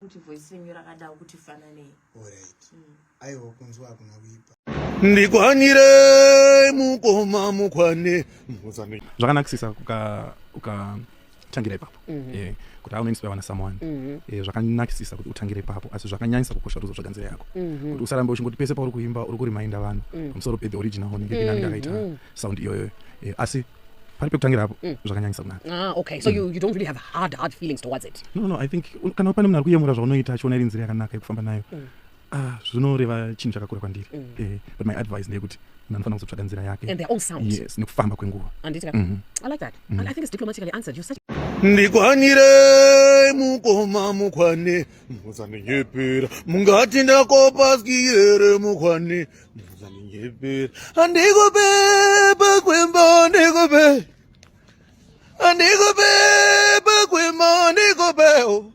kuti voice renyu rakadawo kuti fananei alright mm. aiwa kunzwa hakuna kuipa ndikwanire mukoma mukwane zvakanakisisa ukatangira ipapo mhm. eh, kuti aune inspire wana someone mhm. eh, zvakanakisisa kuti utangire ipapo asi zvakanyanyisa kukosha ruzo zvaganzira yako mhm. kuti usarambe uchingoti pese pauri kuimba uri kurimainda vanhu pamusoro pehe original ngevinani ndakaita sound iyoyo eh, asi pari pekutangira apo mm. zvakanyanyisa kunaka ah, okay so mm. you, you don't really have hard hard feelings towards it no no i think kana pane munhu ari kuyemura zvaunoita achiona iri nzira yakanaka yekufamba nayo mm. ah, zvinoreva chinhu chakakura kwandiri mm. eh, but my advice ndeyekuti munhu anofanira kuzotsvaga nzira yake and their own sound yes nekufamba kwenguva anditi mm -hmm. i like that mm -hmm. and i think it's diplomatically answered you such ndikwanire mukoma mukwane muzandinyepera mungati ndakopaskiyere mukwane Andikubeba kwemba andikube Andikubeba kwemba andikube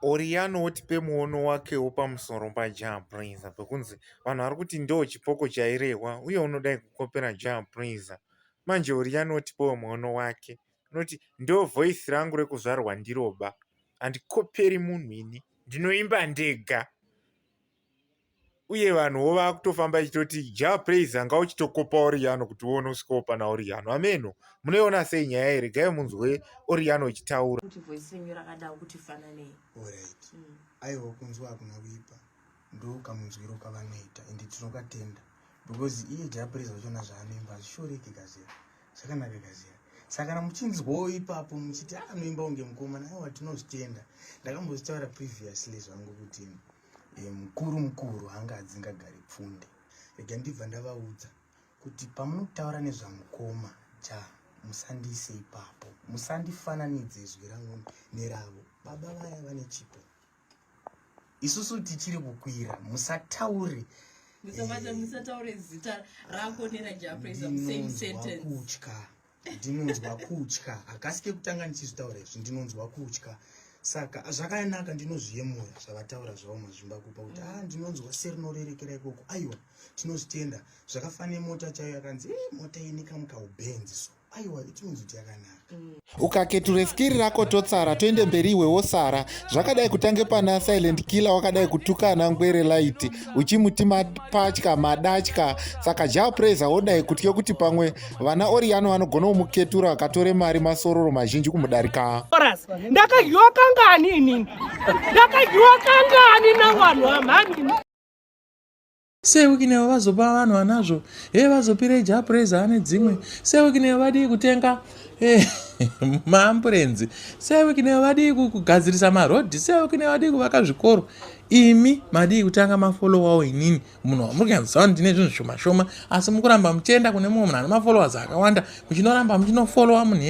Oriano wotipe muono wake wopamusoro paJah Prayzah pekunzi vanhu vari kuti ndoo chipoko chairehwa uye unodai kukopera Jah Prayzah. Manje Oriano wotipewo muono wake unoti ndoo voice rangu rekuzvarwa ndiroba handikoperi munhu ini ndinoimba ndega. uye vanhuwo vakutofamba ichitoti ja praise anga uchitokopa oriyano kuti uone usikopa naoriyano ameno munoiona sei nyaya iri gai munzwe oriyano ichitaura kuti voice renyu rakadao kuti fananei orit mm. aiwa kunzwa hakuna kuipa ndo kamunzwiro kavanoita ende tinokatenda because iye ja praise vachona zvaanoimba hazvishoreke kazira zvakanaka kazira saka kana muchinzwawo ipapo muchiti anoimba ah, unge mukomana aiwa tinozvitenda ndakambozvitaura previously zvangu kutini e, mukuru mukuru anga adzingagari pfunde rega ndibva ndavaudza kuti pamunotaura nezvamukoma ja musandiise ipapo musandifananidze izwi rangu neravo baba vaya vane chipo isusu tichiri kukwira musataure musataure zita rako nerajapraiser same sentence kutya ndinonzwa kutya hakasi kekutanga ndichizvitaura izvi ndinonzwa kutya saka zvakanaka ndinozviyemura zvavataura zvavo mazvimba kupa kuti a ah, ndinonzwa serinorerekera ikoko aiwa tinozvitenda zvakafanira mota chaiyo yakanzi e mota ini kamukaubenzi so aiwa itinonzi kuti yakanaka mm. ukaketura skiri rako totsara toende mberi iwe wosara zvakadai kutange pana silent killer wakadai kutukana ngwere light uchimuti mapatya madatya saka japraiser wodai kutya kuti pamwe vana oriyano vanogona kumuketura vakatore mari masororo mazhinji kumudarika ndakadyiwa kangani inini ndakadyiwa kangani navanhu vamhanini sewikinewo vazopa vanhu vanazvo he vazopire japreza ane dzimwe sewikinewo vadii kutenga eh, maamburenzi sewikinewo vadii kugadzirisa marodhi sewikinewo vadii kuvaka zvikoro imi madii kutanga mafolowawo inini munhu wamuri kuyanzisawo ndine zvinhu zvishoma shoma asi mukuramba muchienda kune mumwe munhu ane mafollowers akawanda muchinoramba muchinofolowa munhu